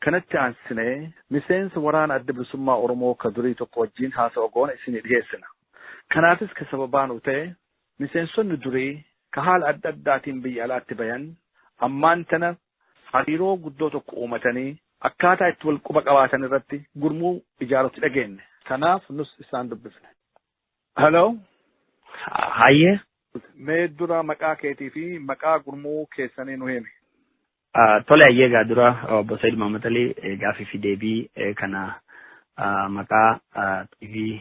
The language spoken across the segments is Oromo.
Kanatti aansinee miseensa waraana Adda Bilisummaa Oromoo ka durii tokko wajjiin haasawa goone isinii dhiheessina. Kanaafis ka sababaa nuu ta'e, miseensonni durii ka haala adda addaatiin biyya alaatti bayan ammaan tana hariiroo guddoo tokko uumatanii akkaataa itti wal quba qabaatan irratti gurmuu ijaarutti dhageenne. Kanaaf nus isaan dubbifne. Hello. Hayyee. Mee dura maqaa keetii fi maqaa gurmuu keessanii nu himi. Tole hayyee egaa dura obbo Said Muhammad Ali gaafii fi deebii kana maqaa TV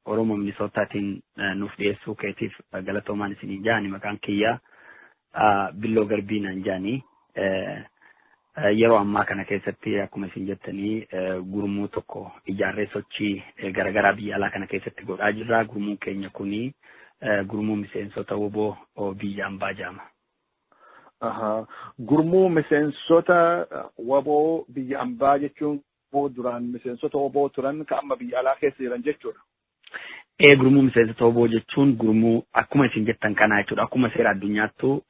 Oromoo Minisoottaatiin nuuf dhiyeessuu keetiif galatoomaan isiniin jaani maqaan kiyyaa Billoo Garbii naan jaani. Yeroo ammaa kana keessatti akkuma isin jettanii gurmuu tokko ijaarree sochii garaagaraa biyya alaa kana keessatti godhaa jirra. Gurmuun keenya kuni gurmuu miseensota woboo biyya ambaa jaama. Gurmuu miseensota waboo biyya ambaa jechuun duraan miseensota waboo turan ka amma biyya alaa keessa jiran jechuudha. Ee gurmuu miseensota waboo jechuun gurmuu akkuma isin jettan kanaa jechuudha. Akkuma seera addunyaattuu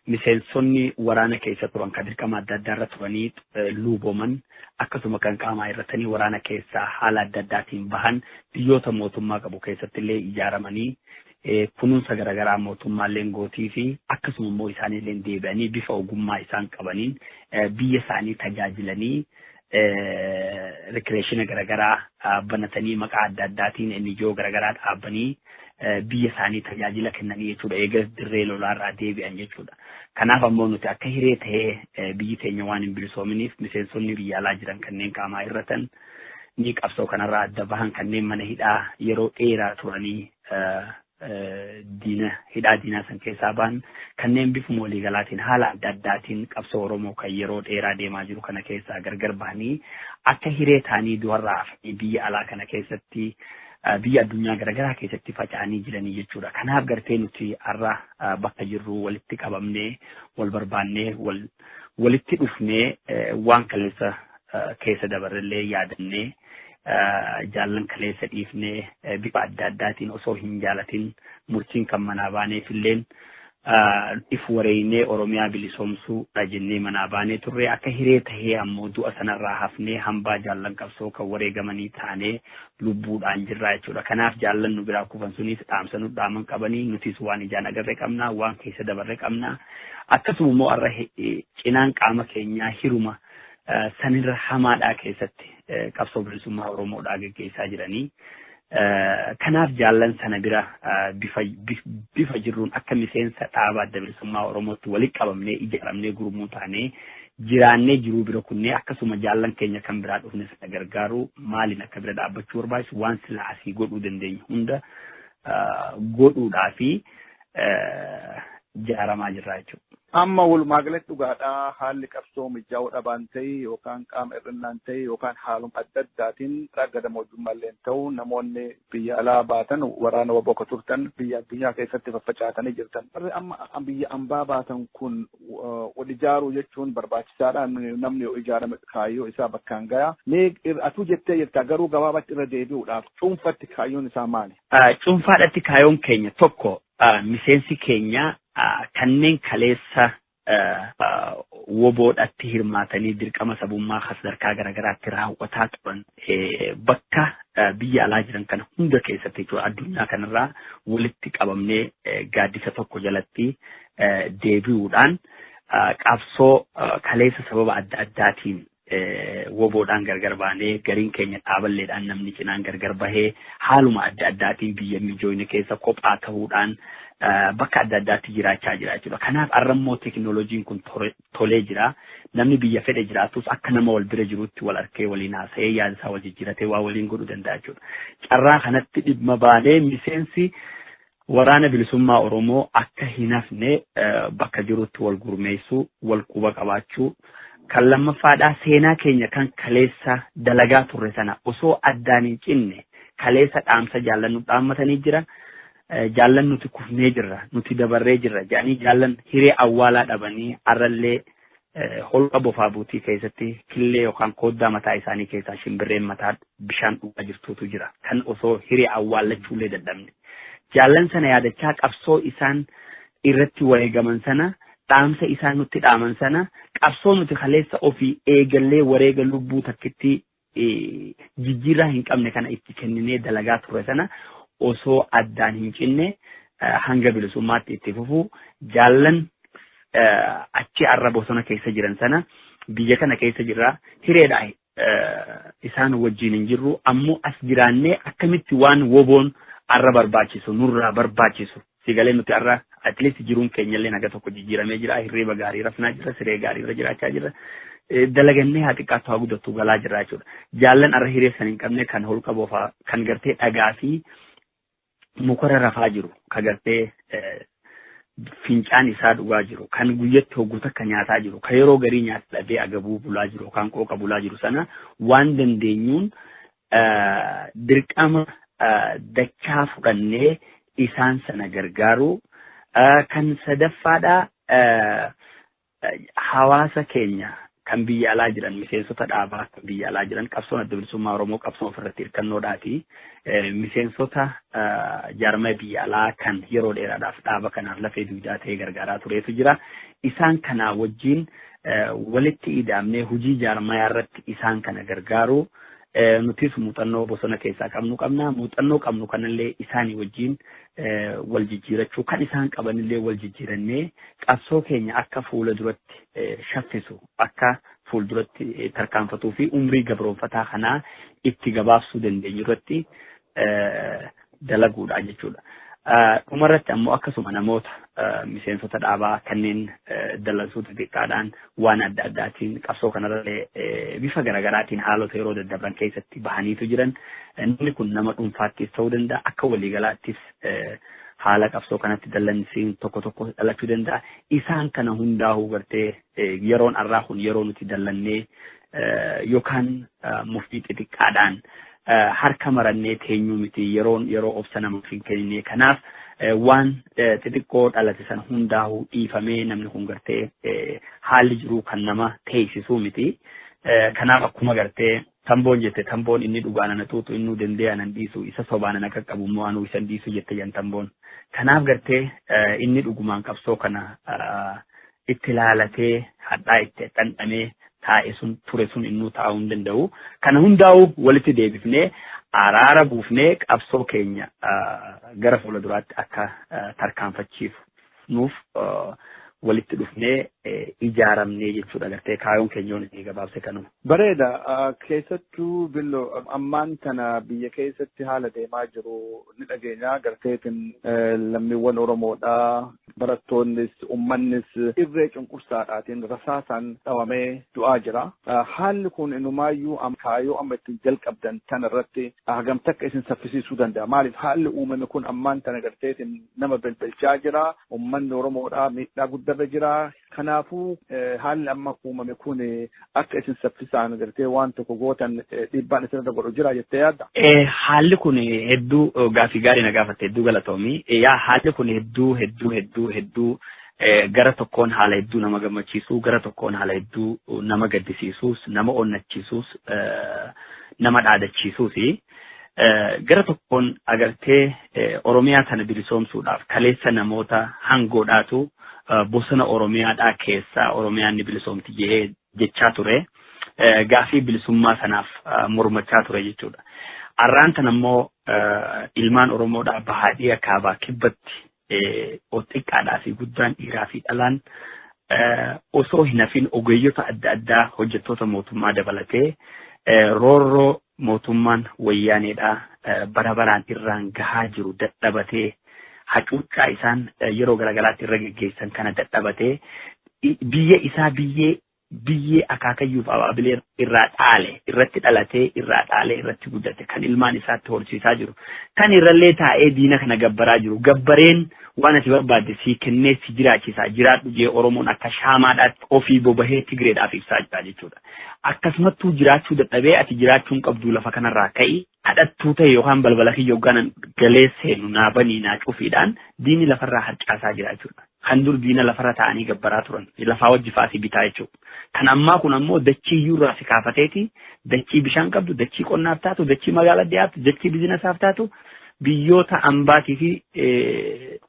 miseensonni waraana keessa turan kan dirqama adda addaa irra turanii luuboman akkasuma kan qaamaa hir'atanii waraana keessaa haala adda addaatiin bahan biyyoota mootummaa qabu keessatti illee ijaaramanii kunuunsa garagaraa mootummaalleen gootiifi akkasuma immoo isaanilleen deebi'anii bifa ogummaa isaan qabaniin biyya isaanii tajaajilanii rikireeshina garagaraa banatanii maqaa adda addaatiin NGO garagaraa dhaabanii biyya isaanii tajaajila kennanii jechuudha. Eegas dirree lolaarraa deebi'an jechuudha. Kanaaf ammoo nuti akka hiree ta'ee biyyi teenya waan hin bilisoominiif miseensonni biyya alaa jiran kanneen qaamaa hir'atan ni qabsoo kanarraa adda bahan kanneen mana hidhaa yeroo dheeraa turanii diina hidhaa diinaa san keessaa ba'an kanneen bifuma waliigalaatiin haala adda addaatiin qabsoo Oromoo kan yeroo dheeraa deemaa jiru kana keessaa gargar bahanii akka hiree ta'anii du'arraa hafanii biyya alaa kana keessatti biyya addunyaa garaagaraa keessatti faca'anii jiranii jechuudha. Kanaaf gartee nuti har'a bakka jirru walitti qabamnee wal barbaannee wal walitti dhufnee waan kaleessa keessa dabarrellee yaadannee jaallan kaleessa dhiifnee bifa adda addaatiin osoo hin jaalatin murtiin kan manaa baaneef illeen if wareeynee Oromiyaa bilisoomsuu dha jennee manaa baanee turre akka hiree tahee ammoo du'a sanarraa hafnee hambaa jaallan qabsoo kan wareegamanii taanee lubbuudhaan jirraa jechuudha. Kanaaf jaallan nu biraa kufan sunis dhaamsa nu dhaaman qabanii nutis waan ijaan agarre qabna waan keessa dabarre qabna. Akkasuma immoo har'a cinaan qaama keenyaa hiruma sanirra hamaadhaa keessatti qabsoo bilisummaa Oromoodhaa geggeessaa jiranii. Kanaaf jaallan sana bira bifa jirruun akka miseensa dhaaba adda bilisummaa Oromootti walitti qabamnee ijaaramnee gurmuu taanee jiraannee jiruu bira kunnee akkasuma jaallan keenya kan biraa dhufne sana gargaaru maaliin akka bira dhaabbachuu barbaachisu waan sila asii godhuu dandeenyu hunda godhuudhaa fi ijaaramaa jirra jechuudha. Amma walumaagalatti dhugaadhaa haalli qabsoo mijaa'uu dhabaan ta'e yookaan qaama hir'innaan ta'e yookaan haaluma adda addaatiin raga damoojjummaa illee ta'u namoonni biyya alaa baatan waraana waboo akka turtan biyya addunyaa keessatti faffacaatanii jirtan. Warri amma biyya ambaa baatan kun wal ijaaruu jechuun barbaachisaadha. Namni yoo ijaarame kaayyoo isaa bakkaan gaya. Mee atuu jettee jirta garuu gabaabatti irra deebi'uudhaaf cuunfatti kaayyoon isaa maali? Cuunfaadhatti kaayoon keenya tokko miseensi keenya kanneen kaleessa woboodhatti hirmaatanii dirqama sabummaa kan sadarkaa garaagaraatti raawwataa turan bakka biyya alaa jiran kana hunda keessatti jechuudha addunyaa kanarraa walitti qabamnee gaaddisa tokko jalatti deebi'uudhaan qabsoo kaleessa sababa adda addaatiin Woboodhaan gargar baanee gariin keenya dhaaballeedhaan namni cinaan gargar bahee haaluma adda addaatiin biyya mijoyne keessa kophaa tahuudhaan bakka adda addaatti jiraachaa jira jechuudha. Kanaaf har'a immoo teekinooloojiin kun tolee jira. Namni biyya fedhe jiraatus akka nama wal bira jiruutti wal arkee waliin haasa'ee yaada isaa wal jijjiiratee waa waliin godhuu danda'a jechuudha. Carraa kanatti dhimma baanee miseensi Waraana Bilisummaa Oromoo akka hin hafne bakka jirutti wal gurmeessuu, wal quba qabaachuu, kan lammaffaadhaa seenaa keenya kan kaleessa dalagaa turre sana osoo addaan hin cinne kaleessa dhaamsa jaallan nu dhaammatanii jira. Jaallan nuti kufnee jirra, nuti dabarree jirra jedhanii jaallan hiree awwaalaa dhabanii har'allee Holqa bofaa buutii keessatti killee yookaan kooddaa mataa isaanii keessaa shimbirreen mataa bishaan dhugaa jirtuutu jira. Kan osoo hiree awwaallachuullee dadhabne. Jaallan sana yaadachaa qabsoo isaan irratti wareegaman sana, dhaamsa isaan nutti dhaaman sana, qabsoo nuti kaleessa ofii eegallee wareega lubbuu takkittii jijjiirraa hin qabne kana itti kenninee dalagaa turre sana osoo addaan hin cinne hanga bilisummaatti itti fufu jaallan achi arra bosona keessa jiran sana biyya kana keessa jirra hireedha isaan wajjin hin jirru ammoo as jiraannee akkamitti waan woboon arra barbaachisu nurraa barbaachisu Sii galee nuti har'a at least jiruun keenyallee haga tokko jijjiiramee jira. Hirriba gaarii rafnaa jirra, siree gaarii irra jiraachaa jirra. Dalagannee haa xiqqaattu haa guddattu galaa jirra jechuudha. Jaallan har'a hiree san hin qabne kan holqa bofaa kan gartee dhagaa fi mukarra rafaa jiru kan gartee fincaan isaa dhugaa jiru kan guyyatti hogguu takka nyaataa jiru kan yeroo garii nyaata dhabee agabuu bulaa jiru kan qooqa bulaa jiru sana waan dandeenyuun dirqama dachaa fudhannee isaan sana gargaaruu kan sadaffaadhaa hawaasa keenya kan biyya alaa jiran miseensota dhaabaa kan biyya alaa jiran qabsoon adda bilisummaa Oromoo qabsoo ofirratti hirkannoodhaati. Miseensota jaarmaya biyya alaa kan yeroo dheeraadhaaf dhaaba kanaaf lafee dugdaa ta'ee gargaaraa tureetu jira. Isaan kanaa wajjin walitti ida'amnee hojii jaarmayaa irratti isaan kana gargaaru. Nutis muuxannoo bosona keessaa qabnu qabna. Muuxannoo qabnu kanallee isaanii wajjin wal jijjiirachuu kan isaan qabanillee wal jijjiirannee qabsoo keenya akka fuula duratti shaffisu akka fuulduratti tarkaanfatuu fi umrii gabroonfataa kanaa itti gabaabsuu dandeenyu irratti dalaguudha jechuudha. Dhumarratti ammoo akkasuma namoota miseensota dhaabaa kanneen dallansuu xixiqqaadhaan waan adda addaatiin qabsoo kanarrallee bifa garaagaraatiin haalota yeroo daddarban keessatti bahaniitu jiran namni kun nama dhuunfaattis ta'uu danda'a akka waliigalaattis haala qabsoo kanatti dallansiin tokko tokko dhalachuu danda'a. Isaan kana hundaa'uu gartee Yeroon arraa kun yeroo nuti dallannee yookaan muftii xixiqqaadhaan harka marannee teenyuu miti yeroon yeroo obsa namaaf hin kennine kanaaf waan xixiqqoo dhalate sana hundaa'uu dhiifamee namni kun gartee haalli jiruu kan nama teessisuu miti kanaaf akkuma gartee Tamboon jette tamboon inni dhugaan ana xuuxu innuu dendee ana hin dhiisu isa sobaan ana qaqqabu immoo anuu isa hin dhiisu jette jan tamboon. Kanaaf gartee inni dhugumaan qabsoo kana itti laalatee hadhaa itti dhandhamee taa'e sun ture sun innuu taa'uu hin danda'u. Kana hundaa'uu walitti deebifnee araara buufnee qabsoo keenya gara fuula duraatti akka tarkaanfachiifu nuuf walitti dhufnee ijaaramnee jechuudha gartee kaayoon keenyoon inni gabaabse kanuma. Bareeda keessattuu billo ammaan tana biyya keessatti haala deemaa jiru ni dhageenya garteetiin lammiiwwan Oromoodhaa barattoonnis ummannis irree cunqursaadhaatiin rasaasaan dhawamee du'aa jira. Haalli kun inumaayyuu kaayoo amma ittiin jalqabdan tana irratti hagam takka isin saffisiisuu danda'a. Maaliif haalli uumame kun ammaan tana garteetiin nama belbelchaa jira. Ummanni Oromoodhaa miidhaa guddarra jira. Kanaafuu haalli amma uumame kun akka isin saffisaan gartee waan tokko gootan dhiibbaan isinirra godhu jira jettee yaadda? Haalli kun hedduu gaaffii gaarii na gaafatte hedduu galatoomi. Yaa haalli kun hedduu hedduu hedduu hedduu gara tokkoon haala hedduu nama gammachiisu gara tokkoon haala hedduu nama gaddisiisuus nama onnachiisuus nama dhaadachiisuusi. Gara tokkoon agartee Oromiyaa tana bilisoomsuudhaaf kaleessa namoota hangoodhaatu bosona Oromiyaadhaa keessaa Oromiyaan ni bilisoomti jedhee jechaa ture. Gaafii bilisummaa sanaaf mormachaa ture jechuudha. Arraan tan ammoo ilmaan Oromoodhaa bahaadhiya kaabaa kibbatti o xiqqaadhaa fi guddaan dhiiraa fi dhalaan osoo hin hafin ogeeyyota adda addaa hojjettoota mootummaa dabalatee roorroo mootummaan wayyaaneedhaa bara baraan irraan gahaa jiru dadhabatee hacuuccaa isaan yeroo garagaraatti irra geggeessan kana dadhabatee biyya isaa biyyee biyyee akaakayyuuf abaabilee irraa dhaale, irratti dhalatee, irraa dhaalee, irratti guddate, kan ilmaan isaatti horsiisaa jiru, kan irrallee taa'ee diina kana gabbaraa jiru, gabbareen waan ati barbaadde sii kennee si jiraachisaa jiraadhu jee Oromoon akka shaamaadhaatti ofii bobahee Tigreedhaaf ibsaa jira jechuudha. Akkasumattuu jiraachuu dadhabee ati jiraachuu hin qabdu lafa kanarraa ka'i kadhattuu ta'e yookaan balbala kiyya hogganan galee seenu naa banii naa cufiidhaan diinni lafarraa harcaasaa jira jechuudha. Kan dur diina lafarra taa'anii gabbaraa turan, lafaa wajji fa'aa si bitaa jechuudha. Kan ammaa kun ammoo dachii iyyuu irraa si kaafateeti, dachii bishaan qabdu, dachii qonnaaf taatu, dachii magaala dhiyaatu, dachii bizinesaaf taatu, biyyoota ambaatii fi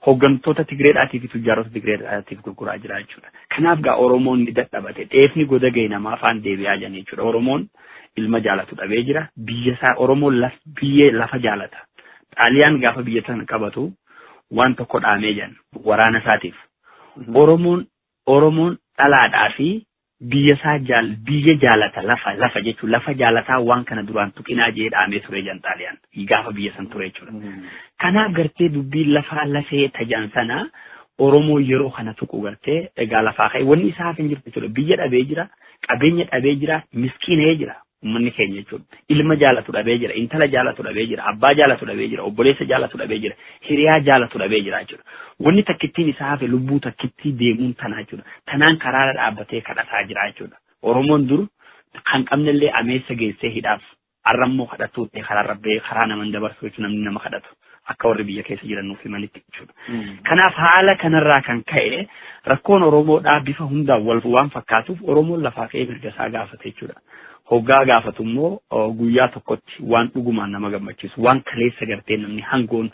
hooggantoota Tigreedhaatii fi tujjaarota Tigreedhaatiif gurguraa jira jechuudha. Kanaaf gaa Oromoon ni dadhabate. Dheefni goda ga'e namaa afaan deebi'aa jiran jechuudha. Oromoon ilma jaalatu dhabee jira. Biyya isaa Oromoon biyyee lafa jaalata. Xaaliyaan gaafa biyya sana qabatu waan tokko dhaamee jedhan waraana isaatiif. Oromoon Oromoon dhalaadhaa fi biyya isaa jaal biyya jaalata lafa lafa jechuun lafa jaalataa waan kana duraan tuqinaa jee dhaamee ture jedhan xaaliyaan gaafa biyya san ture jechuudha. Kanaaf gartee dubbiin lafaa lafee tajan sana Oromoo yeroo kana tuqu gartee egaa lafaa ka'e wanni isaaf hin jirtu jechuudha. Biyya dhabee jira, qabeenya dhabee jira, miskiinee jira. Ummanni keenya jechuun ilma jaalatu dhabee jira, intala jaalatu dhabee jira, abbaa jaalatu dhabee jira, obboleessa jaalatu dhabee jira, hiriyaa jaalatu dhabee jira jechuudha. Wanni takkittiin isaa hafe lubbuu takkittii deemuun tana jechuudha. Tanaan karaarra dhaabbatee kadhataa jira jechuudha. Oromoon dur kan qabnellee ameessa geessee hidhaaf. Har'a immoo kadhattuu ta'ee karaarra bahee karaa nama hin dabarsu jechuudha namni nama kadhatu. Akka warri biyya keessa jiran nuuf himanitti jechuudha. Kanaaf haala kanarraa kan ka'e rakkoon Oromoodhaa bifa hundaan wal waan fakkaatuuf Oromoon lafaa ka'ee mirga isaa gaafate jechuudha. Hoggaa gaafatu immoo guyyaa tokkotti waan dhugumaan nama gammachiisu waan kaleessa gartee namni hangoon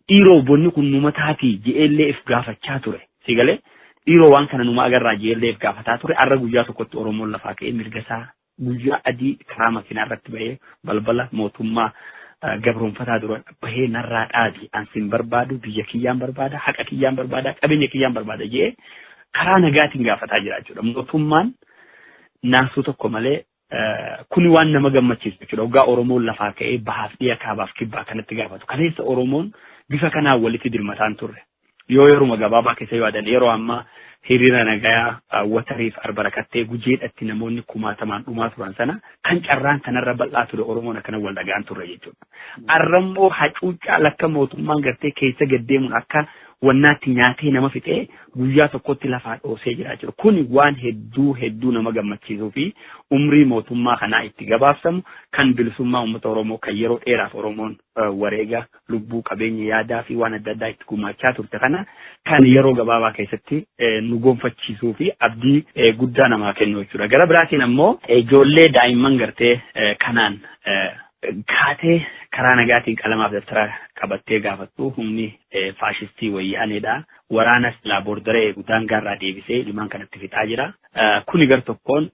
dhiiroo bonni kun numa taatii je'ellee if gaafachaa ture. Si galee dhiiroo waan kana numa agarraa je'ellee if gaafataa ture har'a guyyaa tokkotti Oromoon lafaa ka'ee mirga isaa Guyyaa adii karaa makiinaa irratti bahee balbala mootummaa gabroonfataa dura bahee narraa dhaabi an sin barbaadu biyya kiyyaan barbaada haqa kiyyaan barbaada qabeenya kiyyaan barbaada jee karaa nagaatiin gaafataa jira jechuudha. Mootummaan naasuu tokko malee kuni waan nama gammachiisu jechuudha. Waggaa Oromoon lafaa ka'ee bahaaf dhiya kaabaaf kibbaa kanatti gaafatu. Kaleessa Oromoon bifa kanaan walitti dirmataan turre. yoo yeruma gabaabaa keessa yoo adan yeroo ammaa hiriira nagayaa watariif arbarakattee gujeedhatti namoonni kumaatamaan dhumaa turan sana kan carraan kanarra bal'aa ture Oromoon akkana wal dhagaan turre jechuudha. Arrammoo hacuuccaa lakka mootummaan gartee keessa gaddeemuun akka wannaatti nyaatee nama fixee guyyaa tokkotti lafaa dhoosee jiraa jiru. Kuni waan hedduu hedduu nama gammachiisuu fi umrii mootummaa kanaa itti gabaabsamu kan bilisummaa uummata Oromoo kan yeroo dheeraaf Oromoon wareega lubbuu, qabeenya, yaadaa fi waan adda addaa itti gumaachaa turte kana kan yeroo gabaabaa keessatti nu gonfachiisuu fi abdii guddaa namaa kennu jechuudha. Gara biraatiin ammoo ijoollee daa'imman gartee kanaan kaatee karaa nagaatiin qalamaaf dabtara qabattee gaafattu humni faashistii wayyaaneedha. Waraana silaa boordara eegu daangaarraa deebisee ilmaan kanatti fixaa jira. Kuni gar tokkoon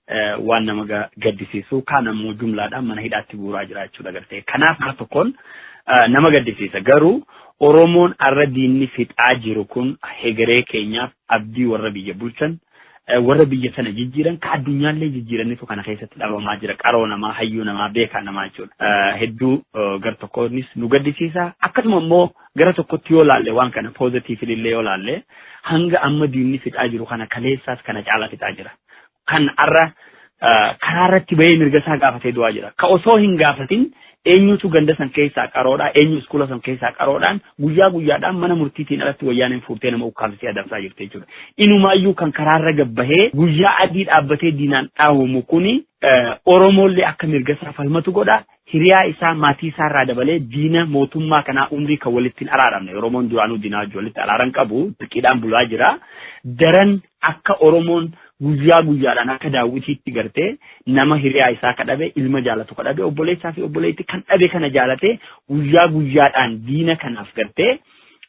waan nama gaddisiisu kaan ammoo jumlaadhaan mana hidhaatti guuraa jira jechuudha gartee. Kanaaf gar tokkoon nama gaddisiisa. Garuu Oromoon arra diinni fixaa jiru kun hegeree keenyaaf abdii warra biyya bulchan warra biyya sana jijjiiran ka addunyaallee jijjiiranitu kana keessatti dhabamaa jira qaroo namaa hayyuu namaa beekaa namaa jechuudha. Hedduu gar tokkoonis nu gaddisiisa akkasuma immoo Gara tokkotti yoo laalle waan kana positively illee yoo laalle hanga amma diinni fixaa jiru kana kaleessaas kana caalaa fixaa jira. Kan har'a karaa irratti bahee mirga isaa gaafatee du'aa jira. Ka osoo hin gaafatin eenyutu ganda san keessaa qaroodhaa eenyu iskuula san keessaa qaroodhaan guyyaa guyyaadhaan mana murtiitiin alatti wayyaaneen fuutee nama ukkaamsisee adamsaa jirti jechuudha. Inumaayyuu kan karaarra gabbahee guyyaa adii dhaabbatee diinaan dhaawamu kuni Oromoollee akka mirga isaa falmatu godha. hiriyaa isaa, maatii isaa irraa dabalee diina mootummaa kanaa umrii kan walitti hin araaramne, Oromoon duraanuu diinaa wajjin walitti araara hin qabu, dirqiidhaan bulaa jira. Daran akka Oromoon guyyaa guyyaadhaan akka daawwitiitti gartee nama hiriyaa isaa ka dhabe, ilma jaalatu ka dhabe, obboleessaa fi obboleettii kan dhabe kana jaalatee guyyaa guyyaadhaan diina kanaaf gartee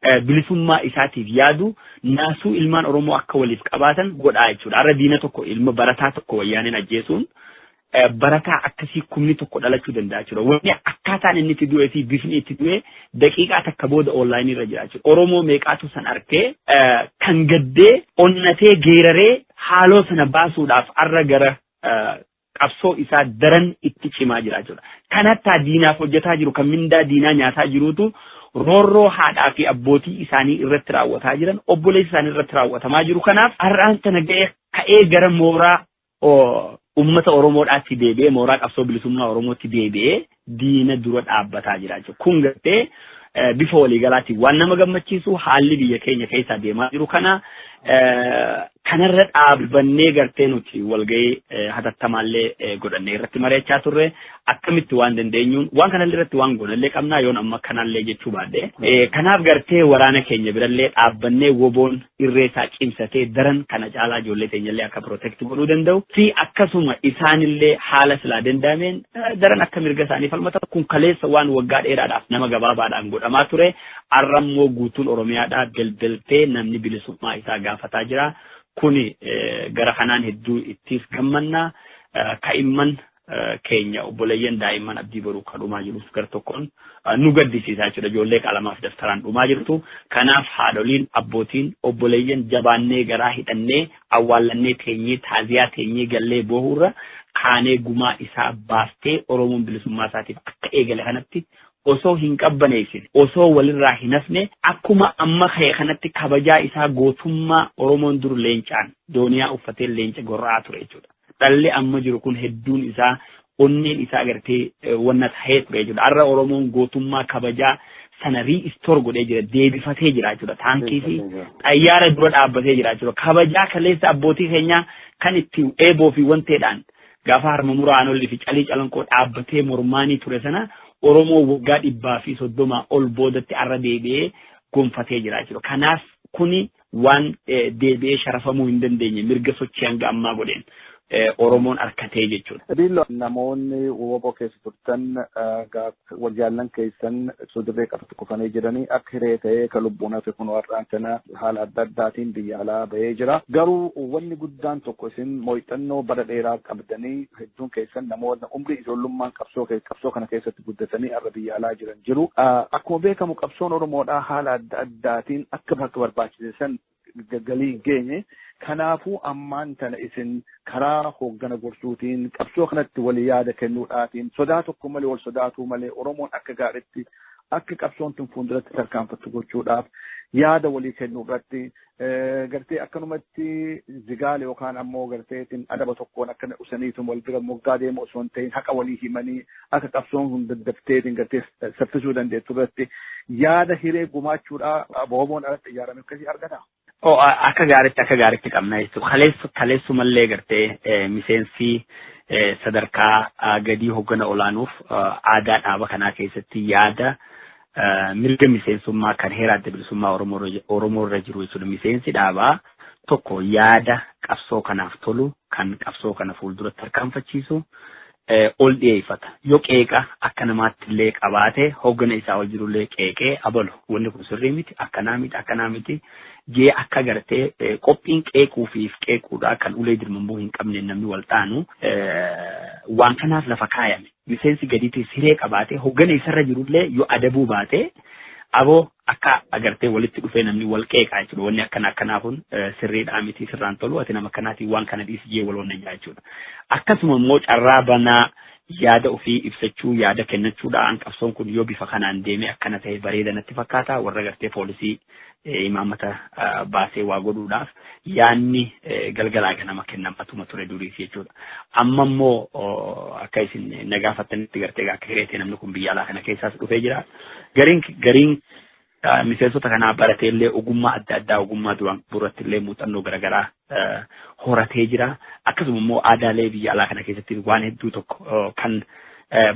eh, bilisummaa isaatiif yaadu naasuu ilmaan Oromoo akka waliif qabaatan godhaa jechuudha. Har'a diina tokko ilma barataa tokko wayyaaneen ajjeesuun barataa akkasii kumni tokko dhalachuu danda'a jechuudha. Wanni akkaataan inni itti du'ee fi bifni itti du'ee daqiiqaa takka booda onlaayinii irra jira jechuudha. Oromoo meeqaatu san argee kan gaddee onnatee geeraree haaloo sana baasuudhaaf arra gara qabsoo isaa daran itti cimaa jira jechuudha. Kan hattaa diinaaf hojjetaa jiru kan mindaa diinaa nyaataa jirutu roorroo haadhaa fi abbootii isaanii irratti raawwataa jiran obboleessa isaanii irratti raawwatamaa jiru kanaaf har'aan tana ga'ee ka'ee gara mooraa uummata Oromoodhaatti deebi'ee mooraa qabsoo bilisummaa Oromootti deebi'ee diina dura dhaabbataa jira jechuudha. Kun gartee bifa waliigalaatiin waan nama gammachiisu haalli biyya keenya keessaa deemaa jiru kana kanarra dhaabbannee gartee nuti walgahii hatattamaallee godhannee irratti mari'achaa turre akkamitti waan dandeenyuun waan kanallee irratti waan goonallee qabnaa yoon amma kanallee jechuu baadhee kanaaf gartee waraana keenya birallee dhaabbannee woboon irree isaa cimsatee daran kana caalaa ijoollee teenyallee akka protect godhuu danda'u fi akkasuma isaanillee haala silaa danda'ameen daran akka mirga isaanii falmatan kun kaleessa waan waggaa dheeraadhaaf nama gabaabaadhaan godhamaa ture arrammoo guutuun oromiyaadhaa belbeltee namni bilisummaa isaa gaafataa jira kuni gara kanaan hedduu ittiis gammannaa ka'imman keenya obboleeyyan daa'imman abdii boruu kan dhumaa jirus gar tokkoon nu gaddisiisaa jechuudha. Ijoollee qalamaaf daftaraan dhumaa jirtu. Kanaaf haadholiin, abbootiin, obboleeyyan jabaannee garaa hidhannee awwaallannee teenyee taaziyaa teenyee gallee boohuurra kaanee gumaa isaa baaftee Oromoon bilisummaa isaatiif akka eegale kanatti osoo hin qabbaneessine osoo walirraa hin hafne akkuma amma ka'e kanatti kabajaa isaa gootummaa Oromoon dur leencaan dooniyaa uffatee leenca gorra'aa ture jechuudha. Dhalli amma jiru kun hedduun isaa onneen isaa agartee wanna tahee ture jechuudha. Har'a Oromoon gootummaa kabajaa sana riistoor godhee jira deebifatee jira jechuudha. Taankii fi xayyaara dura dhaabbatee jira jechuudha. Kabajaa kaleessa abbootii keenyaa kan itti eeboo fi wanteedhaan gaafa harma muraa anolli fi calii calanqoo dhaabbatee mormaanii ture sana Oromoo waggaa dhibbaa fi soddomaa ol boodatti arra deebi'ee gonfatee jira jechuudha. Kanaaf kuni waan deebi'ee sharafamuu hin dandeenye mirga sochii hanga ammaa godheen Oromoon arkatee jechuudha. Diillo namoonni woboo keessa turtan waljaallan keessan ibsuu dirree qabatti kufanii jiranii akka hiree ta'ee kan lubbuun hafe kun warraan sana haala adda addaatiin biyya alaa bahee jira. Garuu wanni guddaan tokko isin mooyxannoo bara dheeraa qabdanii hedduun keessan namoota umrii ijoollummaan qabsoo qabsoo kana keessatti guddatanii har'a biyya alaa jiran jiru. Akkuma beekamu qabsoon Oromoodhaa haala adda addaa daatiin akka bakka barbaachise san galii hin geenye. Kanaafuu ammaan tana isin karaa hooggana gorsuutiin qabsoo kanatti walii yaada kennuudhaatiin sodaa tokko malee wal sodaatuu malee Oromoon akka gaariitti akka qabsoon tun fuulduratti tarkaanfattu gochuudhaaf yaada walii kennuu irratti gartee akkanumatti zigaale yookaan ammoo garteetiin adaba tokkoon akkana usaniitu wal bira moggaa deemu osoo hin ta'in haqa walii himanii akka qabsoon kun daddafteetiin gartee saffisuu dandeettu irratti yaada hiree gumaachuudhaa aboomoon alatti ijaarame akkasii argata. Oo akka gaaritti akka gaaritti qabna jechuudha. Kaleessu kaleessu mallee gartee miseensi sadarkaa gadii hoggana olaanuuf aadaa dhaaba kanaa keessatti yaada mirga miseensummaa kan heera adda bilisummaa Oromoo irra jiru jechuudha. Miseensi dhaabaa tokko yaada qabsoo kanaaf tolu kan qabsoo kana fuulduratti tarkaanfachiisu ol dhiyeeffata. Yoo qeeqa akka namaatti illee qabaate hooggana isaa ol jiru illee qeeqee abalu wanni kun sirrii miti akkanaa miti akkanaa miti jee akka gartee qophiin qeequu fi if qeequudhaa kan ulee dirmamuu hin qabneen namni wal taanu waan kanaaf lafa kaayame. Miseensi gadiitiis hiree qabaatee hooggana isarra jiru illee yoo adabuu baate Aboo akka agartee walitti dhufee namni wal qeeqaa jechuudha. Wanni akkana akkanaa kun sirriidhaa miti sirraan tolu ati nama akkanaatiin waan kana dhiisi jee wal wannayyaa jechuudha. Akkasuma immoo carraa banaa yaada ofii ibsachuu yaada kennachuudhaan qabsoon kun yoo bifa kanaan deemee akkana ta'e bareeda natti fakkaata warra gartee poolisii imaammata baasee waa godhuudhaaf yaanni galgalaa ganama kennamatuma ture duriis jechuudha. Amma immoo akka isin na gaafattanitti gartee akka hireetee namni kun biyya alaa kana keessaas dhufee jira. Gariin gariin miseensota kanaa barateellee ogummaa adda addaa ogummaa duraan qaburratti illee muuxannoo garaagaraa horatee jira. Akkasuma immoo aadaalee biyya alaa kana keessatti waan hedduu tokko kan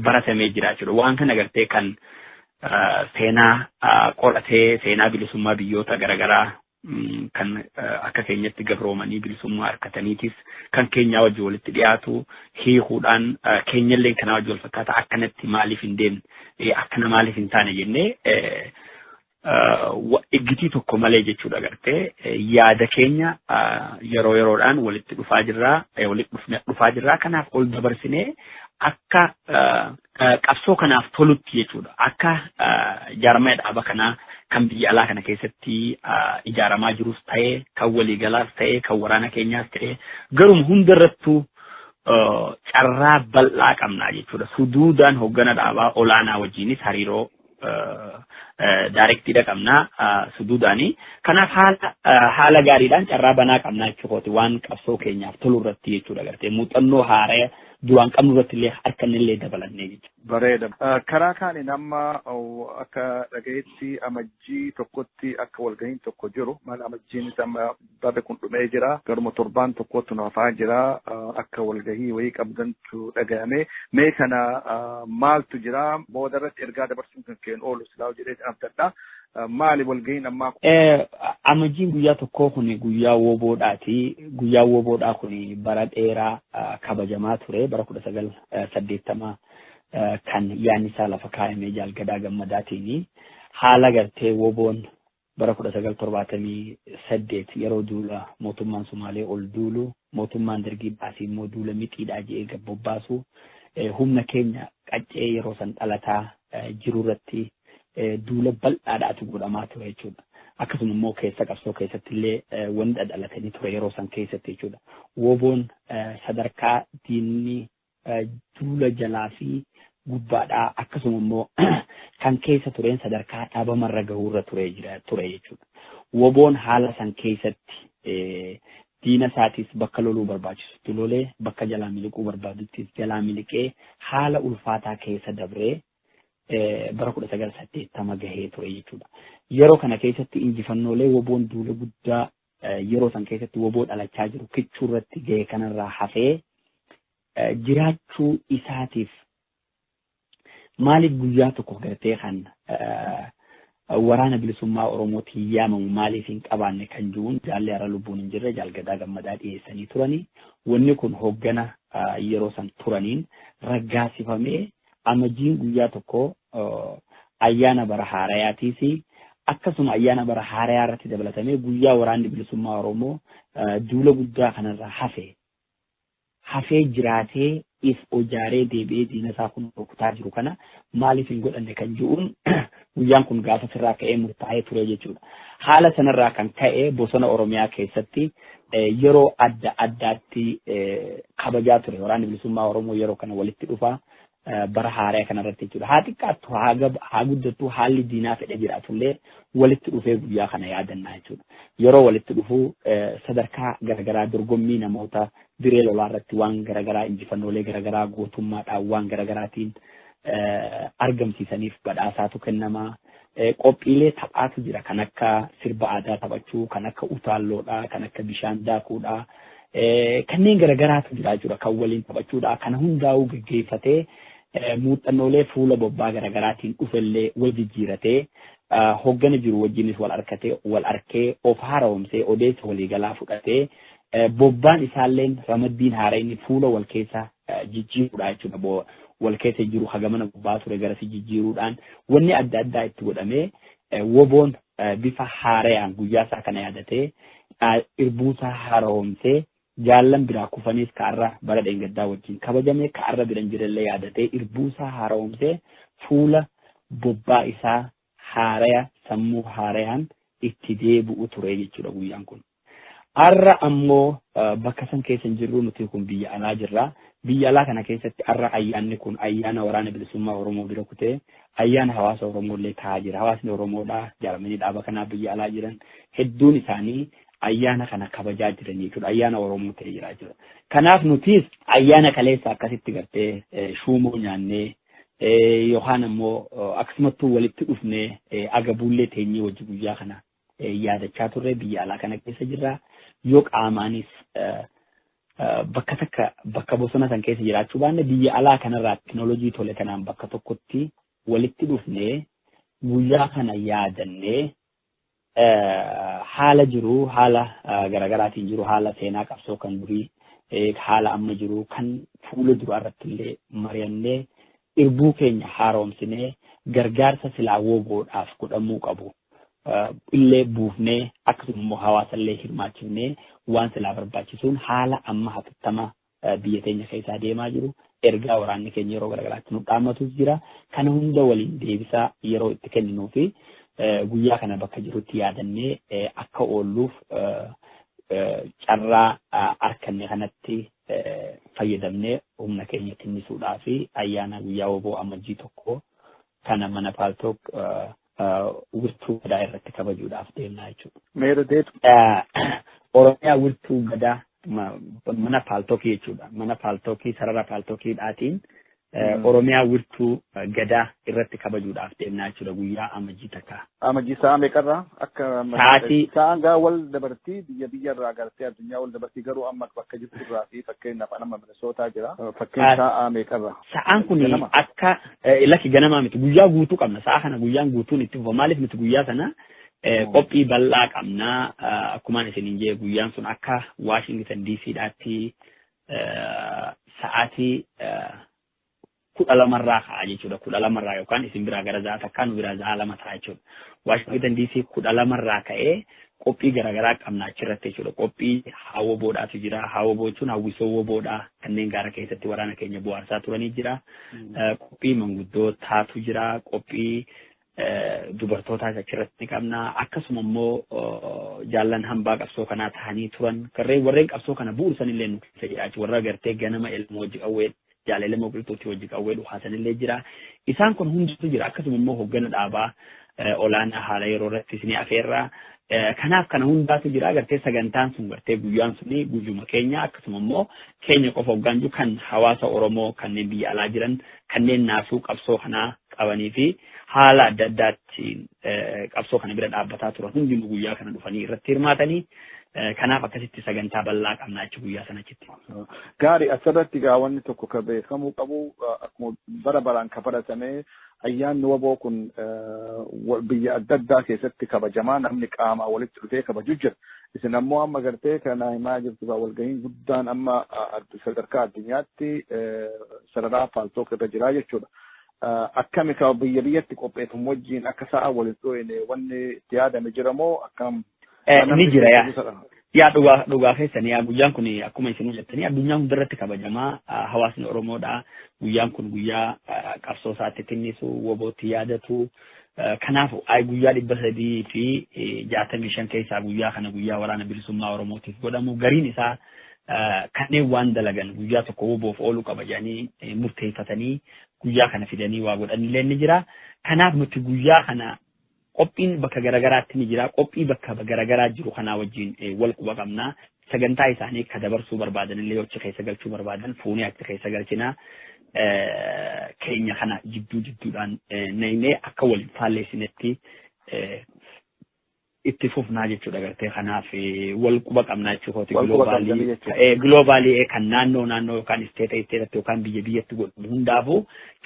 baratamee jira jechuudha. Waan kana gartee kan seenaa qoratee seenaa bilisummaa biyyoota garaagaraa kan akka keenyatti gabroomanii bilisummaa harkataniitis kan keenyaa wajji walitti dhiyaatu hiikuudhaan keenyallee kanaa wajji wal fakkaata akkanatti maaliif hin deemne akkana maaliif hin taane jennee Iggitii tokko malee jechuudha gartee yaada keenya yeroo yeroodhaan walitti dhufaa jirraa walitti dhufaa jirraa kanaaf ol dabarsinee akka qabsoo kanaaf tolutti jechuudha akka jaarmaya dhaaba kanaa kan biyya alaa kana keessatti ijaaramaa jirus ta'e kan waliigalaas ta'e kan waraana keenyaas ta'e garuma hundarrattuu carraa bal'aa qabnaa jechuudha suduudaan hoggana dhaabaa olaanaa wajjiinis hariiroo daarektiidha qabna suduudaani. Kanaaf haala haala gaariidhaan carraa banaa qabna jechuukooti waan qabsoo keenyaaf tolu irratti jechuudha gartee muuxannoo haaraya duraan qabnu irratti illee harka inni illee dabalannee jechuudha. Bareeda. Karaa kaaniin amma akka dhagayetti amajjii tokkotti akka walgahiin tokko jiru maal amajjiin amma Barri kun dhumee jira. Garuma torbaan tokkoottu nu hafaa jira. Akka walgahii wayii qabdantu dhagahame. Mee kana maaltu jira? Booda irratti ergaa dabarsuun kan keen oolu silaa jedhee abdadha. Maali walgahiin ammaa kun? Amajjiin guyyaa tokkoo kun guyyaa woboodhaati. Guyyaa woboodhaa kun bara dheeraa kabajamaa ture. Bara kudha sagal saddeettama kan yaadni isaa lafa kaayamee jaalgadaa gammadaatiin haala gartee woboon Bara 1978 yeroo duula mootummaan Sumaalee ol duulu mootummaan Dargii baasii immoo duula mixiidhaa je'ee gad bobbaasu humna keenya qaccee yeroo san dhalataa jiru irratti duula bal'aadhaatu godhamaa ture jechuudha. Akkasuma immoo keessa qabsoo keessatti illee wanni dhadhalate ni ture yeroo san keessatti jechuudha. Woboon sadarkaa diinni duula jalaa fi gubbaadhaa akkasuma immoo kan keessa tureen sadarkaa dhabamarra gahuurra turee jira ture jechuudha. Woboon haala san keessatti diina isaatiis bakka loluu barbaachisutti lolee bakka jalaa miliquu barbaaduttis jalaa miliqee haala ulfaataa keessa dabree bara kudha sagal saddeettama gahee ture jechuudha. Yeroo kana keessatti injifannoolee woboon duula guddaa yeroo san keessatti woboo dhalachaa jiru kichuu irratti ga'e kanarraa hafee jiraachuu isaatiif maaliif guyyaa tokko gartee kan waraana bilisummaa Oromootiin yaamamu maaliif hin qabaanne kan jiruun jaallee har'a lubbuun hin jirre jaalgadaa gammadaa dhiyeessanii turanii wanni kun hoggana yeroo san turaniin raggaasifamee Amajjiin guyyaa tokko ayyaana bara haarayaati fi akkasuma ayyaana bara haarayaa irratti dabalatamee guyyaa waraanni bilisummaa Oromoo duula guddaa kanarra hafe hafee jiraatee if ojaaree deebi'ee diina isaa kun rukutaa jiru kana maaliif hin godhanne kan jiruun Guyyaan kun gaafa sirraa ka'ee murtaa'ee ture jechuudha. Haala sanarraa kan ka'e bosona Oromiyaa keessatti yeroo adda addaatti kabajaa ture. Waraanni bilisummaa Oromoo yeroo kana walitti dhufa bara haaraa kanarratti jechuudha. Haa xiqqaattu haa guddattu haalli diinaa fedhe jiraatullee walitti dhufee guyyaa kana yaadannaa jechuudha. Yeroo walitti dhufu sadarkaa garaagaraa dorgommii namoota diree lolaa irratti waan garaagaraa injifannoolee garaagaraa gootummaadhaan waan garaagaraatiin argamsiisaniif badhaasaatu kennama. Qophiilee taphaatu jira kan akka sirba aadaa taphachuu, kan akka utaalloodha, kan akka bishaan daakuudha. Kanneen garagaraatu jira jechuudha kan waliin taphachuudha. Kana hundaa'uu gaggeeffatee muuxannoolee fuula bobbaa garagaraatiin dhufellee wal jijjiiratee hoggana jiru wajjinis wal arkatee wal arkee of haaromsee odeessa waliigalaa fudhatee bobbaan isaalleen ramaddiin haarayni fuula wal keessa jijjiiruudha jechuudha. Boo wal keessa hin jiru hagamana bobba'aa ture garasi jijjiiruudhaan wanni adda addaa itti godhamee woboon bifa haarayaan guyyaa isaa kana yaadatee irbuu isaa haaromsee jaallan biraa kufaniis ka'arra bara dheengaddaa wajjin kabajame ka'arra biran jirellee yaadatee irbuu isaa haaromsee fuula bobbaa isaa haaraya sammuu haarayaan itti deebi'u ture jechuudha guyyaan kun. Arra ammoo bakka san keessa hin jirru nuti kun biyya alaa jirra. Biyya alaa kana keessatti arra ayyaanni kun ayyaana waraana bilisummaa Oromoo bira kutee ayyaana hawaasa Oromoo illee taa'aa jira. Hawaasni Oromoodha jaaramanii dhaaba kanaa biyya alaa jiran hedduun isaanii ayyaana kana kabajaa jiran jechuudha. Ayyaana Oromoo ta'ee jira jechuudha. Kanaaf nutis ayyaana kaleessa akkasitti gartee shuumoo nyaannee yookaan ammoo akkasumattuu walitti dhufnee agabuullee teenyee wajji guyyaa kana yaadachaa turre biyya alaa kana keessa jirra yoo qaamaanis bakka takka bakka bosona san keessa jiraachuu baanne biyya alaa kanarraa teknoolojii tole kanaan bakka tokkotti walitti dhufnee guyyaa kana yaadannee haala jiru haala garaagaraatiin jiru haala seenaa qabsoo kan durii haala amma jiru kan fuula duraa irratti illee mari'annee Irbuu keenya haaroomsinee gargaarsa silaa wbo dhaaf godhamuu qabu illee buufnee akkasuma immoo hawaasa illee hirmaachifnee waan silaa barbaachisuun haala amma hatattama biyya teenya keessaa deemaa jiru ergaa waraanni keenya yeroo garagaraatti nu dhaammatuus jira. Kana hunda waliin deebisaa yeroo itti kenninuu fi guyyaa kana bakka jirutti yaadannee akka oolluuf carraa arkanne kanatti fayyadamnee humna keenya tinnisuudhaa fi ayyaana guyyaa wbo Amajjii 1 kana mana Paaltook wirtuu gadaa irratti kabajuudhaaf deemnaa jechuudha. Meera deetu. Oromiyaa wirtuu gadaa mana paaltookii jechuudha. Mana paaltookii sarara paaltookii dhaatiin Oromiyaa wirtuu gadaa irratti kabajuudhaaf deemnaa jechuudha guyyaa amajjii takka. Amajjii sa'a meeqarraa akka Sa'aatii- sa'aan gaa wal dabartii biyya biyyarraa agartee addunyaa wal dabartii garuu amma bakka jirtu irraa fi fakkeenyaaf anama Minisootaa jira fakkeen Ah. sa'aa meeqarraa. Sa'aan kun Ganama. akka eh, lakki ganamaa miti guyyaa guutuu qabna sa'a kana guyyaan guutuun itti fufa maaliif miti guyyaa sana eh, Mm. qophii bal'aa qabna Ah, akkumaan isiniin jee guyyaan sun akka Washington DC dhaatti sa'aatii kudha lamarraa ka'a jechuudha. Kudha lamarraa yookaan isin biraa gara za'a takkaa nu biraa za'a lama ta'a jechuudha. Waashingtan diisii kudha lamarraa ka'ee qophii garaagaraa qabna achirratti jechuudha. Qophii haawwa boodhaatu jira. Haawwa boochuun hawwisoo woboodha. Kanneen gaara keessatti waraana keenya bu'aarsaa turanii jira. Qophii manguddootaatu jira. Qophii dubartootaas achirratti ni qabna. Akkasuma immoo jaallan hambaa qabsoo kanaa tahanii turan garreen warreen qabsoo kana bu'uursan illee nu keessa jira jechuudha. Warra gartee ganama ilmoo hojii qawwee jaalala ilmoo qilxuutti hojii qawwee dhuhaasan illee jira. Isaan kun hundatu jira. Akkasuma immoo hoggana dhaabaa olaanaa haala yeroo irratti isin afeerraa. Kanaaf kana hundaatu jira gartee sagantaan sun gartee guyyaan suni guyyuma keenya akkasuma immoo keenya qofa hoggaan jiru kan hawaasa Oromoo kanneen biyya alaa jiran kanneen naasuu qabsoo kanaa qabanii fi haala adda addaatiin qabsoo kana bira dhaabbataa turan hundinuu guyyaa kana dhufanii irratti hirmaatanii kanaaf akkasitti sagantaa bal'aa qabna jechuudha guyyaa sana achitti. Gaarii asirratti egaa wanni tokko kan beekamuu qabu akkuma bara baraan kan baratame ayyaanni waboo kun biyya adda addaa keessatti kabajamaa namni qaamaa walitti dhufee kabaju jira. Isin ammoo amma gartee kana himaa jirtu kaa walgahiin guddaan amma sadarkaa addunyaatti sararaa paaltook irra jiraa jechuudha. Akkami kaa biyya biyyatti qopheeffamu wajjin akka sa'a waliin dhooyne wanni itti yaadame jira moo akkam? Ni jira yaa. Yaa dhugaa dhugaa keessan yaa guyyaan kun akkuma isin jettanii addunyaa hundarratti kabajamaa hawaasni Oromoodha. Guyyaan kun guyyaa qabsoo isaatti tinnisu wobootti yaadatu Kanaafu, I guyyaa 365 keessaa guyyaa kana guyyaa waraana bilisummaa Oromootiif godhamu gariin isaa kanneen waan dalagan guyyaa tokko woboof oolu qaba jedhanii murteeffatanii guyyaa kana fidanii waa godhanillee ni jira. Kanaaf nuti guyyaa kana qophiin bakka garagaraatti ni jira. Qophii bakka garagaraa jiru kanaa wajjin wal quba qabna. Sagantaa isaanii ka dabarsuu barbaadan illee yoo achi keessa galchuu barbaadan fuunee achi keessa galchina. Keenya kana jidduu jidduudhaan naynee akka wal hin faalleessinetti itti fufnaa jechuudha gartee kanaaf wal quba qabnaa jechuu kooti giloobaalii kan naannoo naannoo yookaan isteeta isteetatti yookaan biyya biyyatti godhamu hundaafuu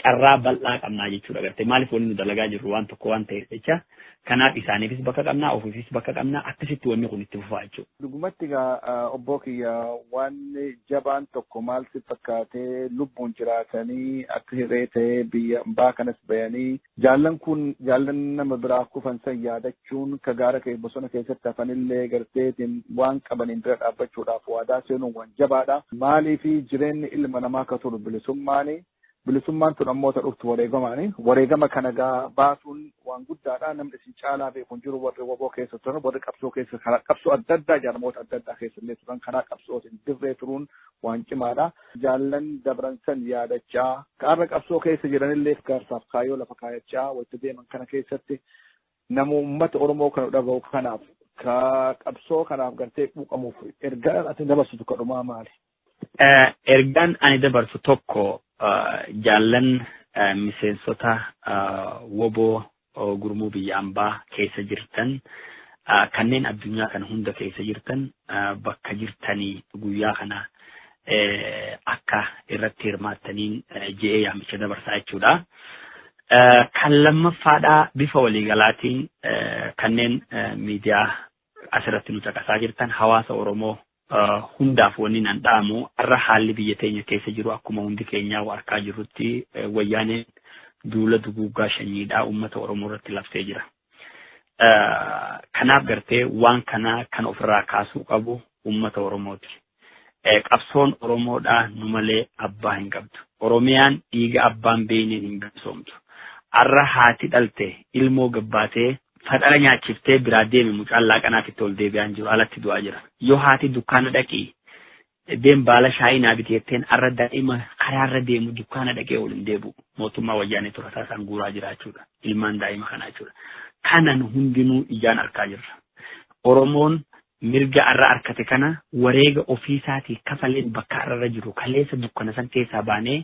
carraa bal'aa qabnaa jechuudha gartee maaliif wanni nu dalagaa jirru waan tokko waan ta'eef jecha Kanaaf isaaniifis bakka qabna, ofiifis bakka qabna, akkasitti wanni kun itti fufaa jechuudha. Dhugumatti egaa obboo kiyya waan jabaan tokko maal si fakkaatee lubbuun jiraatanii akka hirree ta'ee biyya ambaa kanas bayanii jaallan kun jaallan nama biraa kufan san yaadachuun ka gaara kee bosona keessatti hafanillee garteetiin waan qabaniin bira dhaabbachuudhaaf waadaa seenuun waan jabaadha. Maaliif jireenyi ilma namaa ka turu bilisummaani Bilisummaan tun ammoo ta dhuftu wareegamaani. Wareegama kana gaa baasuun waan guddaadha. Namni isin caalaa beeku hin jiru warri waboo keessa turan, warri qabsoo keessa karaa qabsoo adda addaa jaarmoota adda addaa keessa illee turan karaa qabsootiin dirree turuun waan cimaadha. Jaallan dabran san yaadachaa ka har'a qabsoo keessa jiranillee gaarsaaf kaayoo lafa kaayachaa wayita deeman kana keessatti nama uummata Oromoo kana dhagahu kanaaf ka qabsoo kanaaf gartee quuqamuuf ergaa ati dabarsitu ka dhumaa maali? Ergaan ani dabarsu tokko jaallan miseensota woboo gurmuu biyya ambaa keessa jirtan kanneen addunyaa kana hunda keessa jirtan bakka jirtanii guyyaa kana akka irratti hirmaattaniin je'ee yaamicha dabarsaa jechuudha. Kan lammaffaadhaa bifa waliigalaatiin kanneen miidiyaa asirratti nu caqasaa jirtan hawaasa Oromoo hundaaf wannin an dhaamu arra haalli biyya teenya keessa jiru akkuma hundi keenyaa wa arkaa jirrutti wayyaaneen duula duguuggaa shanyiidhaa uummata Oromoo irratti labsee jira. Kanaaf gartee waan kana kan ofirraa kaasuu qabu uummata Oromooti. Qabsoon Oromoodhaa nu malee abbaa hin qabdu. Oromiyaan dhiiga abbaan beeyneen hin bilisoomtu. Arra haati dhalte ilmoo gabbaatee Faxara nyaachiftee biraa deemi mucaan laaqanaa fitte ol deebi'aa hin jiru alatti du'aa jira. Yoo haati dukkaana dhaqi deem baala shaayii naa biti jetteen arra daa'ima karaarra deemu dukkaana dhaqee ol hin deebi'u. Mootummaa wayyaanee turataa isaan guuraa jira jechuudha. Ilmaan daa'ima kanaa jechuudha. Kanan hundinuu ijaan arkaa jirra. Oromoon Mirga arra arkate kana wareega ofiisaatii kafaleen bakka arra irra jirru kaleessa dukkana san keessaa baanee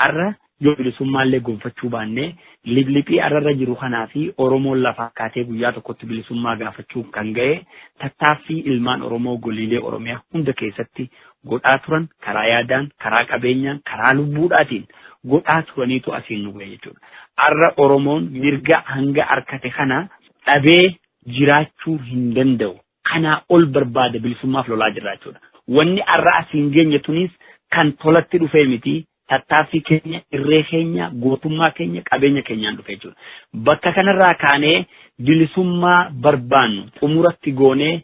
arra yoo bilisummaallee gonfachuu baanne liphliphii arra irra jiru kanaa fi Oromoon lafaa kaatee guyyaa tokkotti bilisummaa gaafachuun kan gahe tattaaffii ilmaan Oromoo goliilee Oromiyaa hunda keessatti godhaa turan karaa yaadaan, karaa qabeenyaan, karaa lubbuudhaatiin godhaa turaniitu asiin nu gahe jechuudha. Arra Oromoon mirga hanga arkate kana dhabee jiraachuu hin danda'u. Kanaa ol barbaada bilisummaaf lolaa jirra jechuudha. Wanni arra as hin geenye tuniis kan tolatti dhufee miti tattaaffii keenya, irree keenya, gootummaa keenya, qabeenya keenyaan dhufe jechuudha. Bakka kanarraa kaanee bilisummaa barbaannu xumuratti goonee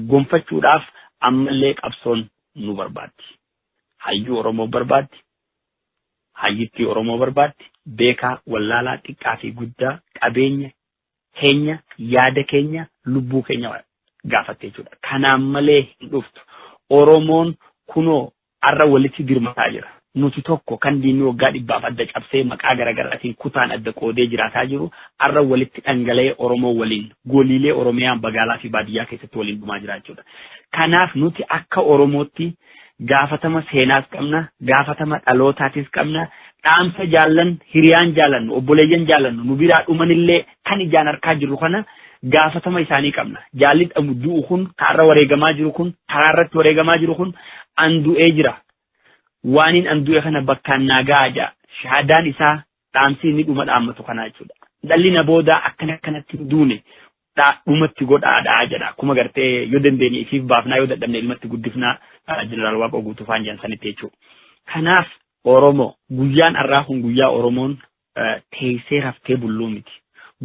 gonfachuudhaaf ammallee qabsoon nu barbaaddi. Hayyuu Oromoo barbaaddi. Hayyittii Oromoo barbaaddi. Beekaa, wallaalaa, xiqqaa fi guddaa qabeenya keenya, yaada keenya, lubbuu keenya gaafatte jechuudha. Kanaan malee hin dhuftu. Oromoon kunoo har'a walitti dirmataa jira. Nuti tokko kan diinni waggaa dhibbaaf adda cabsee maqaa garaagaraatiin kutaan adda qoodee jiraataa jiru har'a walitti dhangala'ee Oromoo waliin goliilee Oromiyaa magaalaa fi baadiyyaa keessatti waliin dhumaa jira jechuudha. Kanaaf nuti akka Oromootti gaafatama seenaas qabna, gaafatama dhalootaatis qabna, dhaamsa jaallan, hiriyaan jaalannu, obboleeyyan jaalannu nu biraa dhumanillee kan ijaan arkaa jirru kana gaafatama isaanii qabna. Jaalli dhamu du'u kun, ka har'a wareegamaa jiru kun, karaa irratti wareegamaa jiru kun an du'ee jira. Waaniin an du'e kana bakkaan naa gahaa jaa. Shahaadaan isaa dhaamsi inni dhuma dhaammatu kanaa jechuudha. Dhalli na boodaa akkana akkanatti hin duune dhumatti godhaadha jedha. Akkuma gartee yoo dandeenye ifiif baafnaa yoo dadhabne ilmatti guddifnaa jeneraal Waaqoo guutuu faan jedhan sanitti jechuudha. Kanaaf Oromoo guyyaan har'aa kun guyyaa Oromoon teessee raftee bulluu miti.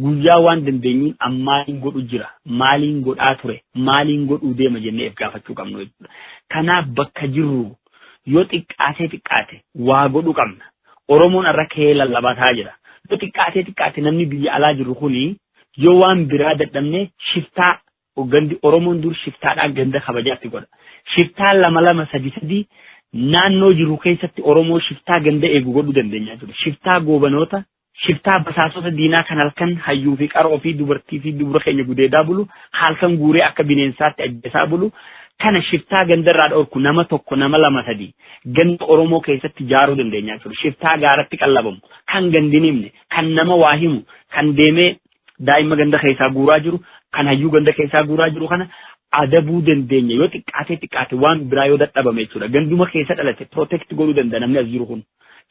Guyyaa waan dandeenyuun ammaaliin godhu jira, maaliin godhaa ture, maaliin godhuu deema jennee if gaafachuu qabnu jechuudha. Kanaaf bakka jirru Yoo xiqqaatee xiqqaate waa godhu qabna. Oromoon har'a ka'ee lallabataa jira. Yoo xiqqaatee xiqqaate namni biyya alaa jiru kuni yoo waan biraa dadhabne shiftaa gandi Oromoon dur shiftaadhaan ganda kabajaatti godha. Shiftaa lama lama sadi sadi naannoo jiru keessatti Oromoo shiftaa ganda eegu godhuu dandeenyaa jiru. Shiftaa goobanoota Shiftaa basaasota diinaa kan halkan hayyuu fi qaroo fi dubartii fi dubra keenya gudeedaa bulu, halkan guuree akka bineensaatti ajjeesaa bulu, kana shiftaa ganda irraa dhorku nama tokko nama lama sadii ganda Oromoo keessatti jaaruu dandeenya jechuudha. Shiftaa gaaratti qallabamu, kan gandi hin himne, kan nama waa himu, kan deemee daa'imma ganda keessaa guuraa jiru kan hayyuu ganda keessaa guuraa jiru kana adabuu dandeenya yoo xiqqaatee xiqqaate waan biraa yoo dadhabame jechuudha ganduma keessa dhalate protect godhuu danda'a namni as jiru kun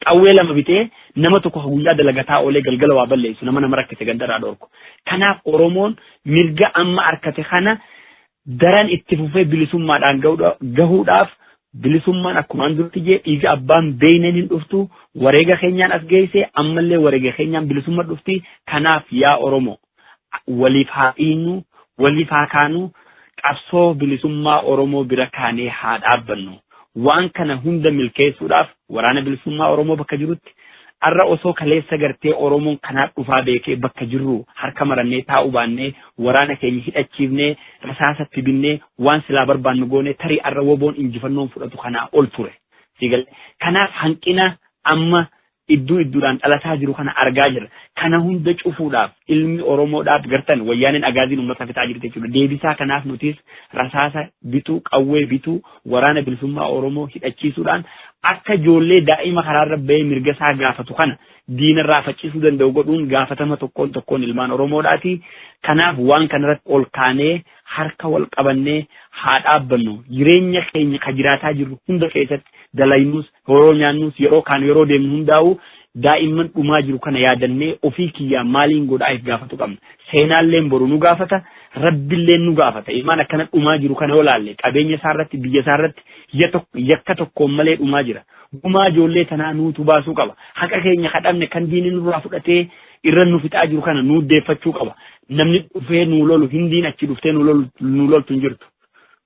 qawwee lama bitee nama tokko guyyaa dalagataa oolee galgala waa balleessu nama nama rakkise gandarraa dhorku kanaaf oromoon mirga amma arkate kana daran itti fufee bilisummaadhaan gahuudhaaf bilisummaan akkumaan duratti jee dhiiga abbaan beeyneen hin dhuftu wareega keenyaan as geeyse ammallee wareega keenyaan bilisumma dhufti kanaaf yaa oromo waliif haa dhiinnu waliif haa kaanu qabsoo bilisummaa oromoo bira kaanee haa dhaabbannu waan kana hunda milkeessuudhaaf Waraana Bilisummaa Oromoo bakka jirutti arra osoo kaleessa gartee Oromoon kanaa dhufaa beekee bakka jirru harka marannee taa'uu baannee waraana keenya hidhachiifnee rasaasa itti binnee waan silaa barbaannu goonee tarii arra woboon injifannoon fudhatu kanaa ol ture. Siigale. Kanaaf hanqina amma idduu idduudhaan dhalataa jiru kana argaa jirra. Kana hunda cufuudhaaf ilmi Oromoo dhaab gartan wayyaaneen agaaziin uummata fixaa jirti jechuudha. Deebisaa kanaaf nutis rasaasa bituu, qawwee bituu, Waraana Bilisummaa Oromoo hidhachiisuudhaan akka ijoollee daa'ima karaarra bahee mirga isaa gaafatu kana diinarraa faccisuu danda'u godhuun gaafatama tokkoon tokkoon ilmaan Oromoodhaati. Kanaaf waan kanarratti ol kaanee harka wal qabannee haa dhaabbannu. Jireenya keenya ka jiraataa jirru hunda keessatti dalaynus Horoo nyaannuus yeroo kaanu yeroo deemnu hundaa'uu daa'imman dhumaa jiru kana yaadannee ofii kiyyaa maaliin godhaa if gaafatu qabna. Seenaalleen boru nu gaafata, Rabbilleen nu gaafata. Ilmaan akkana dhumaa jiru kana yoo laalle qabeenya isaarratti, biyya isaarratti yakka tokkoon malee dhumaa jira. Gumaa ijoollee tanaa nuutu baasuu qaba. Haqa keenya ka dhabne kan diinni nurraa fudhatee irra nu fixaa jiru kana nuu deeffachuu qaba. Namni dhufee nuu lolu, Hindiin achi dhuftee nuu loltu hin jirtu.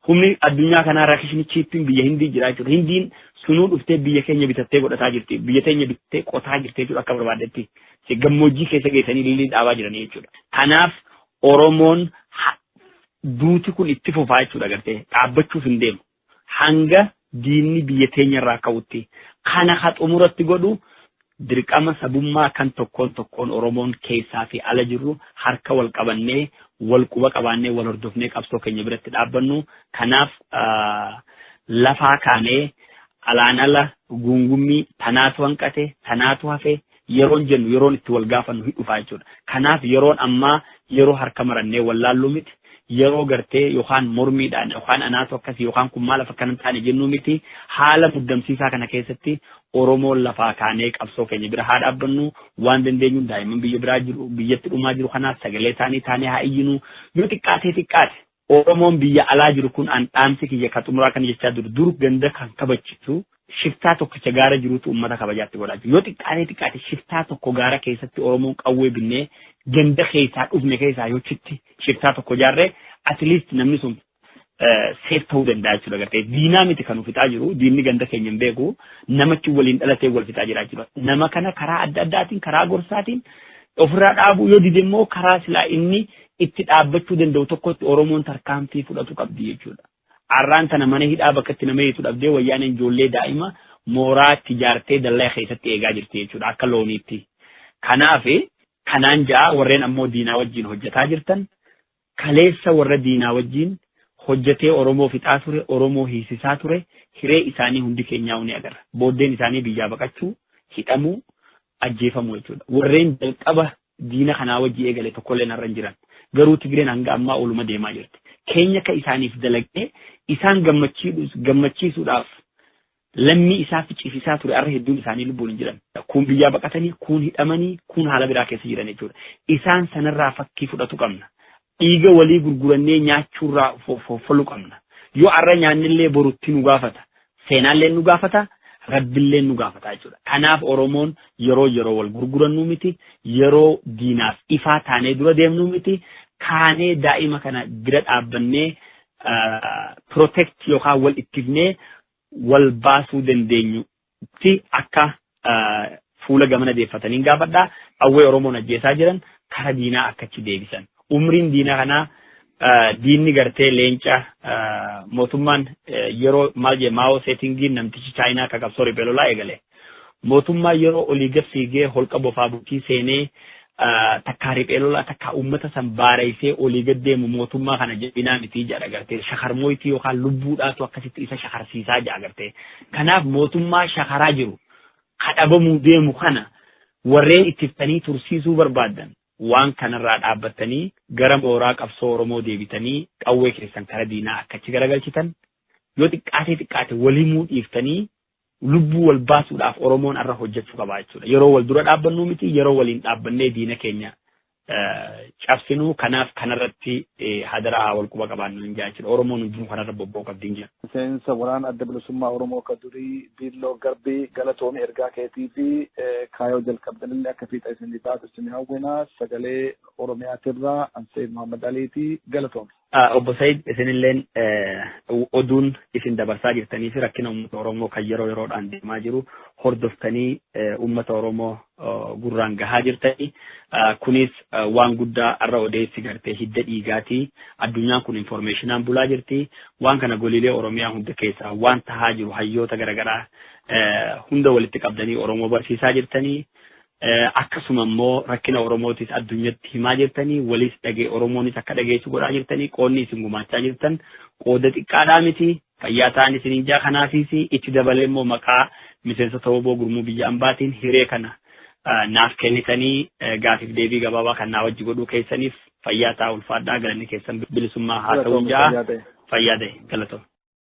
Humni addunyaa kanaa rakishni chiippiin biyya Hindii jira jechuudha. Hindiin sunuu dhuftee biyya keenya bitattee godhataa jirti. Biyya teenya bitattee qotaa jirti jechuudha akka barbaaddetti. Se- Gammoojjii keessa geessanii lillii dhaabaa jiranii jechuudha. Kanaaf Oromoon ha- duuti kun itti fufaa jechuudha gartee dhaabbachuuf hin deemu. Hanga diinni biyya teenya irraa ka'utti. Kana ka xumuratti godhu dirqama sabummaa kan tokkoon tokkoon Oromoon keessaa fi ala jirru harka wal qabannee, wal quba qabaannee, wal hordofnee qabsoo keenya biratti dhaabbannu. Kanaaf lafaa kaanee alaan ala guungummii tanaatu hanqate, tanaatu hafe, Yeroon jennu yeroon itti wal gaafannu hin dhufaa jechuudha. Kanaaf yeroon ammaa yeroo harka marannee wallaalluu miti, yeroo gartee yookaan mormiidhaan yookaan anaatu akkasi yookaan kun maalaaf akkana hin taane jennuu miti, haala muddamsiisaa kana keessatti Oromoon lafaa kaanee qabsoo keenya bira haa dhaabbannu, waan dandeenyuun daa'imman biyya biraa jiru, biyyatti dhumaa jiru kanaaf sagalee isaanii taanee haa iyyinu, yoo xiqqaatee xiqqaate Oromoon biyya alaa jiru kun an dhaamsi kiyya ka xumuraa kana jechaa dur dur ganda kan kabachisu shiftaa tokkicha gaara jiruutu ummata kabajaatti godhaa jiru. Yoo xiqqaatee xiqqaate shiftaa tokko gaara keessatti Oromoon qawwee binnee ganda keessaa dhufne keessaa yoo chitti shiftaa tokko jaarree at least namni sun seef ta'uu danda'a jechuudha gartee diinaa miti kan fixaa jiru diinni ganda keenya hin beeku namachi waliin dhalatee wal fixaa jiraa jiru nama kana karaa adda addaatiin karaa gorsaatiin ofirraa dhaabuu yoo dide immoo karaa silaa inni itti dhaabbachuu danda'u tokkotti Oromoon tarkaanfii fudhatu qabdi jechuudha. Arraan tana mana hidhaa bakka itti nama hiitu dhabdee wayyaaneen ijoollee daa'ima mooraa itti jaartee dallaa keessatti eegaa jirti jechuudha akka looniitti. Kanaaf kanaan ja'a warreen ammoo diinaa wajjin hojjetaa jirtan kaleessa warra diinaa wajjin hojjetee Oromoo fixaa ture Oromoo hiisisaa ture hiree isaanii hundi keenyaa ni agarra. Booddeen isaanii biyyaa baqachuu hidhamuu ajjeefamuu jechuudha. Warreen jalqaba Diina kanaa wajji eegale tokkolleen har'a hin jiran. Garuu Tigreen hanga ammaa oluma deemaa jirti. Keenya akka isaaniif dalagnee isaan gammachiidhus- gammachiisuudhaaf lammii isaa ficisiisaa ture har'a hedduun isaanii lubbuun hin jiran. Kuun biyyaa baqatanii, kuun hidhamanii, kuun haala biraa keessa jiran jechuudha. Isaan sanarraa fakkii fudhatu qabna. Dhiiga walii gurgurannee nyaachuurraa fofolu qabna. Yoo arra nyaannellee boru itti nu gaafata. Seenaalleen nu gaafata, Rabbilleen nu gaafata jechuudha. Kanaaf Oromoon yeroo yeroo wal gurgurannuu miti, yeroo diinaaf ifaa taanee dura deemnuu miti, kaanee daa'ima kana bira dhaabbannee protect yookaan wal ittifnee wal baasuu dandeenyu tti akka fuula gamana deeffataniin gaafadha. Qawwee Oromoon ajjeesaa jiran kara diinaa akka achi deebisan. Umriin diina kanaa diinni gartee leenca mootummaan yeroo maal jee maawoo seetingiin namtichi chaayinaa akka qabsoo riphee lolaa eegale. Mootummaa yeroo olii gad fiigee holqa bofaa bultii seenee takkaa riphee lolaa takkaa uummata san baareessee olii gad deemu mootummaa kana jabinaa mitii jedha agartee shakarmooytii yookaan lubbuudhaatu akkasitti isa shakarsiisaa jedha agartee kanaaf mootummaa shakaraa jiru kadhabamuu deemu kana warreen ittiftanii tursiisuu barbaadan waan kanarraa dhaabbattanii gara mooraa qabsoo Oromoo deebitanii qawwee keessan kara diinaa akkachi garagalchitan yoo xiqqaatee xiqqaate walimuu dhiiftanii lubbuu wal baasuudhaaf Oromoon har'a hojjechuu qaba jechuudha. Yeroo wal dura dhaabbannuu miti, yeroo waliin dhaabbannee diina keenya cabsinuu kanaaf kanarratti hadaraa haa wal quba qabaannu hin jechuudha. Oromoon hundinuu kanarra bobba'uu qabdi hin jedhu. Miseensa waraana adda bilisummaa Oromoo ka durii Biilloo Garbii galatoomi ergaa keetii fi kaayoo jalqabdanillee akka fiixa isinii baatu isin hawwina sagalee Oromiyaatirraa Ansee Muhammad Aliiti galatoomi. Obbo Said isinilleen oduun isin dabarsaa jirtanii fi rakkina uummata Oromoo kan yeroo yeroodhaan deemaa jiru hordoftanii uummata Oromoo gurraan gahaa jirtanii kunis waan guddaa har'a odeessi gartee hidda dhiigaati addunyaan kun informeeshinaan bulaa jirti waan kana goliilee Oromiyaa hunda keessaa waan tahaa jiru hayyoota garagaraa hunda walitti qabdanii Oromoo barsiisaa jirtanii Akkasuma immoo rakkina Oromootis addunyatti himaa jirtanii, waliis dhage Oromoonis akka dhageessu godhaa jirtanii, qoodni isin gumaachaa jirtan qooda xiqqaadhaa miti. Fayyaa ta'an isiniin jaa kanaafiis itti dabalee immoo maqaa miseensota wbo gurmuu biyya ambaatiin hiree kana naaf kennitanii gaafiif deebii gabaabaa kan naa wajji godhuu keessaniif fayyaa ta'aa ulfaadhaa galanni keessan bilisummaa haa ta'uun jaa fayyaa ta'e galatoo.